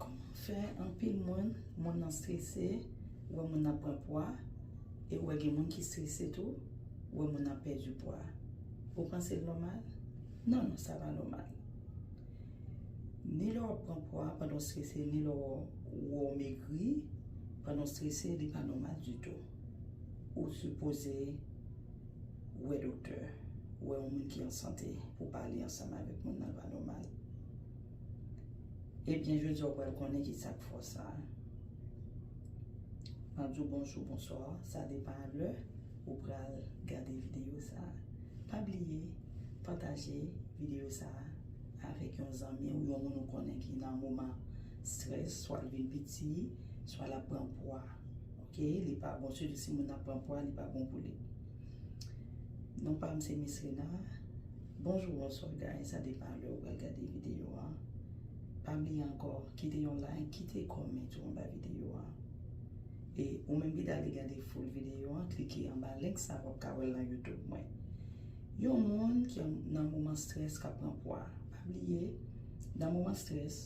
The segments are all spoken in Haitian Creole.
Kòman fè anpil moun, moun nan strese, ou wè moun nan ap pran pwa, e ou wè gen moun ki strese tou, ou wè moun nan ap pèdi pwa. Ou panse l nòmal? Non, non, sa pa nòmal. Ni lè w ap pran pwa pandan w strese, ni lè ou wè w megri pandan w strese, li pa nòmal ditou. Ou sipoze. Wè doktè, wè yon moun ki an sante pou pale ansanm avèk moun nan pa nòmal. Ebyen jodi a ou pral konnen ki sa k fè w sa. Map di w bonjou, bonswa, sa depan a lè ou pral gade videyo sa. Pa bliye pataje videyo sa avèk yon zanmi ou, yon moun ou konnen ki nan moman strès, swa l vin piti, swa lap pran pwa. Ok li pa bon sitou si moun nan pran pwa li pa bon pou li non pam se mislina bonjou bonswa guys sa depan lè ou pral gade video an pa bliye ankò kite yon like kite comment ou anba video an e ou menm ki ta vle gade full video an klike anba link sa wap ka wèl nan youtube mwen yon moun ki nan moman strès kap pran pwa pa bliye nan moman strès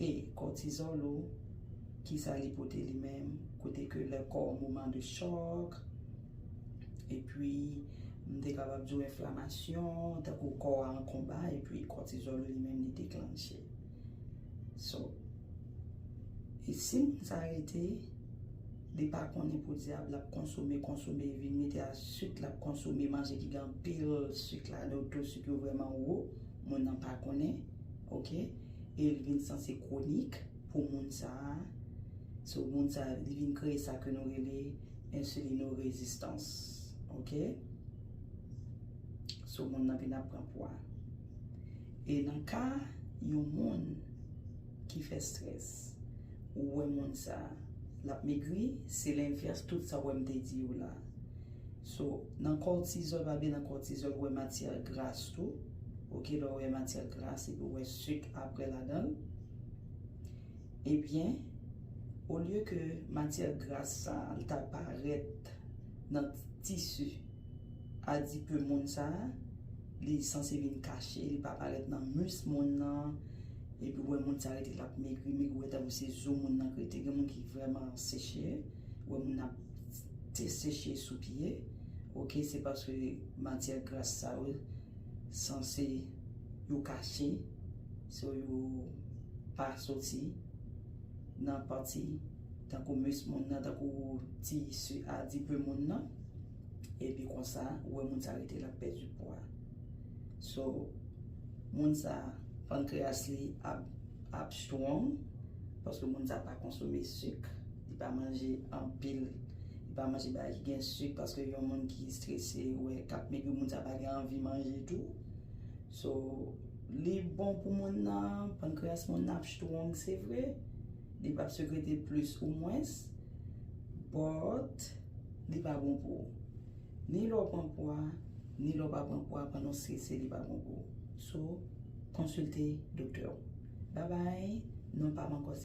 E kòtizòl ou, kisa li pote li menm? Kote ke lè kò w moman de chòk, epi m te kapab di w enflamasyon, tankou kò a an konba, epi kòtizòl ou li menm li deklanche. So, e si moun sa rete, li pa konnen podyab l ap konsome, konsome, vin mete a sik l ap konsome, manje ki gen anpil sik ladan, to sik yo vrèman wo, moun nan pa konnen, ok? E li vin sanse kronik pou moun sa a. So moun sa a li vin kreye sa ke nou rele ensilino rezistans. Ok. So moun nan vin ap pran pwa. E nan ka yon moun ki fè stress ou wè moun sa a l ap megri se lenvès tout sa ou wè m te di yo la. So nan kòtizòl pa vle nan kòtizòl ou wè matyè gras tou ok lè ou wè matyè gras epi ou wè suk aprè ladanl ebyen olye ke matyè gras sa li ta parèt nan tisi adipe moun sa li sanse vin kache li pa parèt nan mis moun nan epi ou wè moun sa rete lap megri megri ou wè tankou se zo moun nan k rete gen moun ki vrèman seche ou wè moun ap. te seche sou pye ok se paske matyè gras sa yo sanse yo kache so yo pa soti nan pati tankou mis moun nan tankou ti su adipe moun nan epi konsa ou wè moun sa rete lap pèdi pwa so moun sa pankreas li ap strong paske moun sa pa konsome suk. Li pa manje anpil, li pa manje bagay ki gen suk paske yon moun ki strese ou wè kap megri moun sa pa gen anvi manje tou. So li bon pou moun nan, pankreas moun nan ap strong se vre, li pap sekrete plis ou mwens but li pa bon pou ou. Ni lè w pran pwa, ni lè w pa pran pwa pandan w strese li pa bon pou ou. So konsilte doktè w. Babay, non pa m ankò se.